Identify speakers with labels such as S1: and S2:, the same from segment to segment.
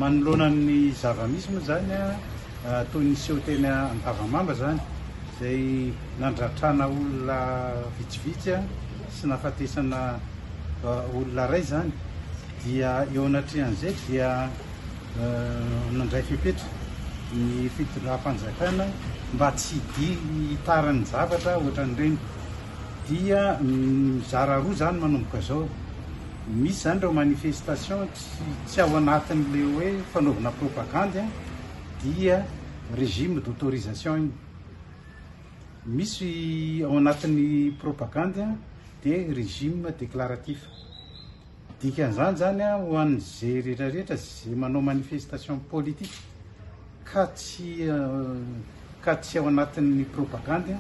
S1: Manoloana ny zava-misy moa izany, toy ny seho teny Antavamamba izany, izay nandratrana olona vitsivitsy sy nahafatesana olona iray izany, dia eo anatrehan'izay dia nandray fepetra ny fitondram-panjakana mba tsy hiditarany zavatra ohatran'ireny. Dia mizara roa izany manomboka izao. Misy izany ireo manifestation tsy ao anatin'ilay hoe fanaovana propagandy dia régime d'autorisation iny. Misy ao anatin'ny propagandy dia régime déclaratif. Dikan'izany izany ho an'izay rehetra rehetra izay manao manifestation politique. ka tsy ka tsy ao anatin'ny propagandy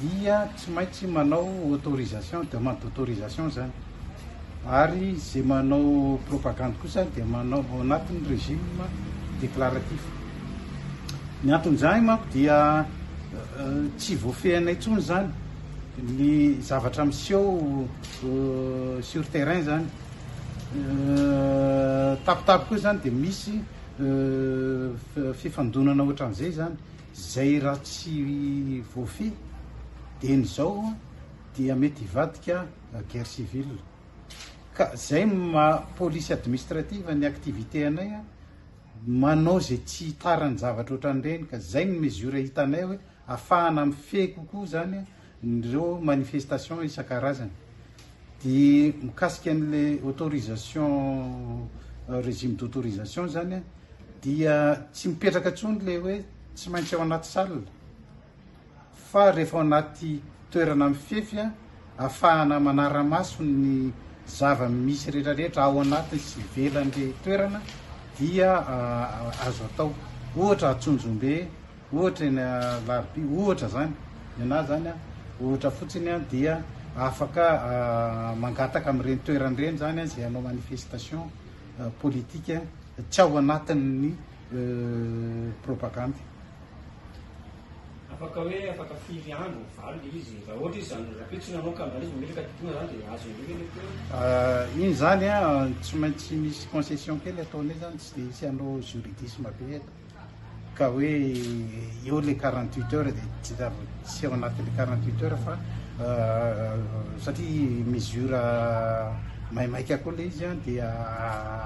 S1: dia tsy maintsy manao autorisation, demande d'autorisation zany ary ze manao propagandy kosa dia manao ao anatin'ny régime déclaratif. Ny anton'izany manko dia tsy voafehana intsony zany ny zavatra miseho sur terrain zany. Tapitapy koa zany dia misy fifandonana ohatran'izay zany zay raha tsy voafehy dieny izao dia mety hivadika guerre civile ka zay maha police administrative ny activité anay a manao zay tsy hitaran'ny zavatra ohatran'ireny ka zay ny mesure hitanay hoe afahana mifehy kokoa zany a ireo manifestation isan-karazany dia mikasika an'ilay autorisation régime d'autorisation zany dia tsy mipetraka intsony ilay hoe tsy maintsy ao anaty salle fa rehefa ao anaty toerana mifefy afahana manara-maso ny zava-misy rehetrarehetra ao anaty sy ivelan'ilay toerana dia azo atao ohatra atsonjombe Ohatra eny Alarobia ohatra izany, nenaha izany ohatra fotsiny, dia afaka mangataka amin'ireny toerana ireny izany izay hanao manifestation politique tsy ao anatin'ny propagandy. Afaka hoe afaka firy andro ho valona ilay izy? Raha
S2: ohatra izy izany rahampitso tsy nanao campagne izy mametraka diploma izany dia azo indray ve ilay
S1: toerana? Iny izany tsy maintsy misy concession kely ataonay izany, tsy dia hisy hanao juridisme be eto. ka hoe eo le quarante huit heures dia tsy zava tsy ao anaty le quarante huit heures fa satria mesure maimaika koa le izy an dia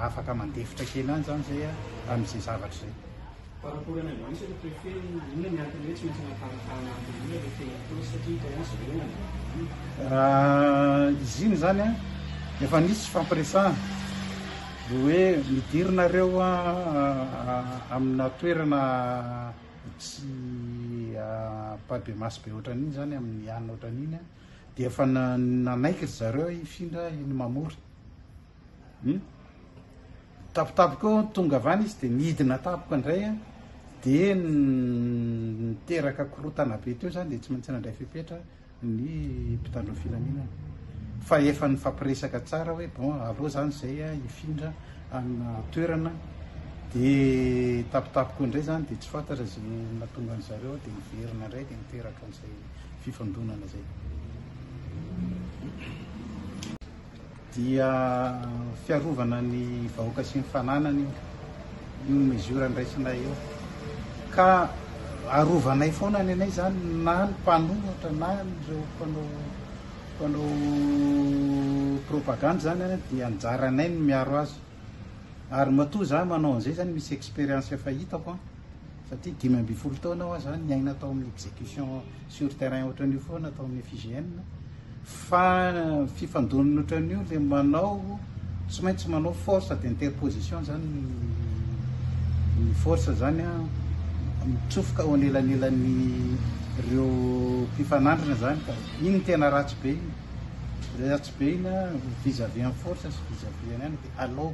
S1: afaka mandefitra kely any zany zay amin'izay zavatra zay par rapport anay mbola
S2: isany préfet inona
S1: ny antony hoe tsy maintsy anaparatahana an'ilay olona le feuille de poste satria hitanao izy ireo nandeha izy iny zany an efa nisy fampiresahana Dia hoe midira nareo amina toerana tsy pas de masse be ohatran'iny zany amin'ny alina ohatran'iny an, dia efa nanaiky ry zareo hifindra iny mamory hum tapitapika eo tonga avy any izy dia nidina tapoka indray an, dia niteraka korotana be teo zany dia tsy maintsy nandray fepetra. ny mpitandro ny filaminana fa efa nifampiresaka tsara hoe bon aleo zany zay a hifindra amina toerana de tapitapiko indray zany de tsy fantatra ze natonga ny zareo de niverina indray de niteraka an'izay fifandonana zay dia fiarovana ny vahoaka sy ny fananany io io mesure andraisanay io ka arovanay foana ny anay zany na ny mpanohatra na ireo mpanao mpanao propagande zany a dia anjaranay ny miaro azy ary matoa za manao an'izay zany misy expérience efa hitako an Fa ty dimy ambin'ny folo taona hoa zany niaina tao amin'ny execution sur terrain ohatran'io foana tao amin'ny FIGN fa fifandonana ohatran'io le manao tsy maintsy manao force d'interposition zany ny force zany a mitsofoka ao anelanelan'ny reo mpifanandrina zany ka iny tena ratsy be iny ratsy be iny a vis-à-vis en force sy vis-à-vis an'aina de alao